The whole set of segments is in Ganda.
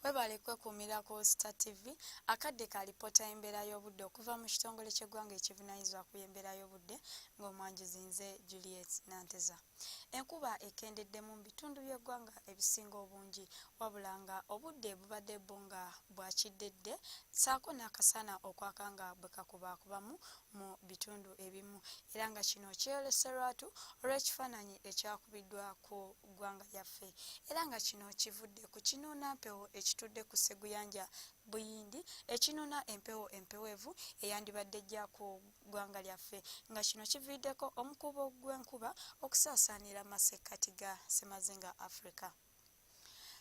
Webale kwekuumira ku Star TV akadde ka lipoota y'embeera y'obudde okuva mu kitongole ky'eggwanga ekivunaanyizibwa ku y'embeera y'obudde ng'omwanjuzi nze Juliet Nanteza. Enkuba ekendeddemu mu bitundu by'eggwanga ebisinga obungi wabula nga obudde bubadde bwo nga bwa kiddedde ssaako n'akasana okwaka nga bwe kakubaakubamu mu bitundu ebimu era nga kino kyeyolese lwatu olw'ekifaananyi ekyakubiddwa ku ku ggwanga lyaffe era nga kino kivudde ku kinuuna mpewo ekitudde ku sseguyanja buyindi ekinuuna empewo empeweevu eyandibadde ejja ku ggwanga lyaffe nga kino kiviiriddeko omukuubo gw'enkuba okusaasaanira masekkati ga ssemazinga africa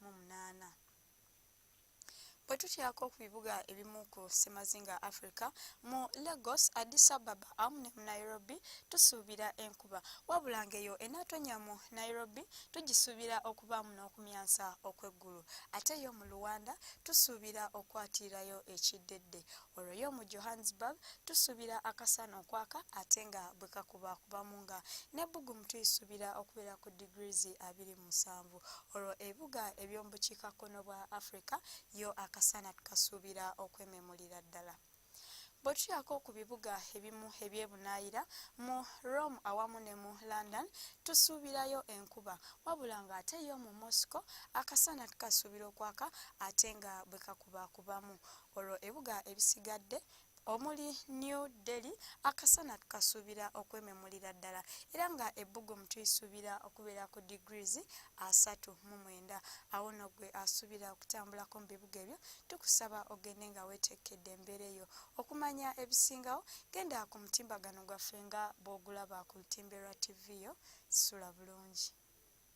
mu munaana. Bwe tutyako ku bibuga ebimu ku ssemazinga Africa, mu Lagos, Addis Ababa awamu ne mu Nairobi tusuubira enkuba wabula ng'eyo enaatonnya mu Nairobi tugisuubira okubaamu n'okumyansa okw'eggulu ate yo mu Luwanda tusuubira okwatirirayo ekiddedde olwo yo mu Johannesburg tusuubira akasana okwaka ate nga bwe kakubakubamu nga n'ebbugumu tuyisuubira okubeera ku digirizi abiri musanvu olwo ebibuga eby'omu bukiikakkono bwa Afrika yo akasana tukasuubira okwememulira ddala. Bwe tutyako ku bibuga ebimu ebyebunaayira mu Rome awamu ne mu London tusuubirayo enkuba wabula ng'ate yo mu Moscow akasana tukasuubira okwaka ate nga bwe kakubakubamu olwo ebibuga ebisigadde omuli New Delhi akasana tukasuubira okwememulira ddala era nga ebbugumu tuyisuubira okubeera ku degrees asatu mu mwenda awo no gwe asuubira okutambulako mu bibuga ebyo tukusaba ogende nga weetekkedde embeera eyo okumanya ebisingawo genda ku mutimbagano gwaffe nga bw'ogulaba ku lutimbe lwa ttivi yo sula bulungi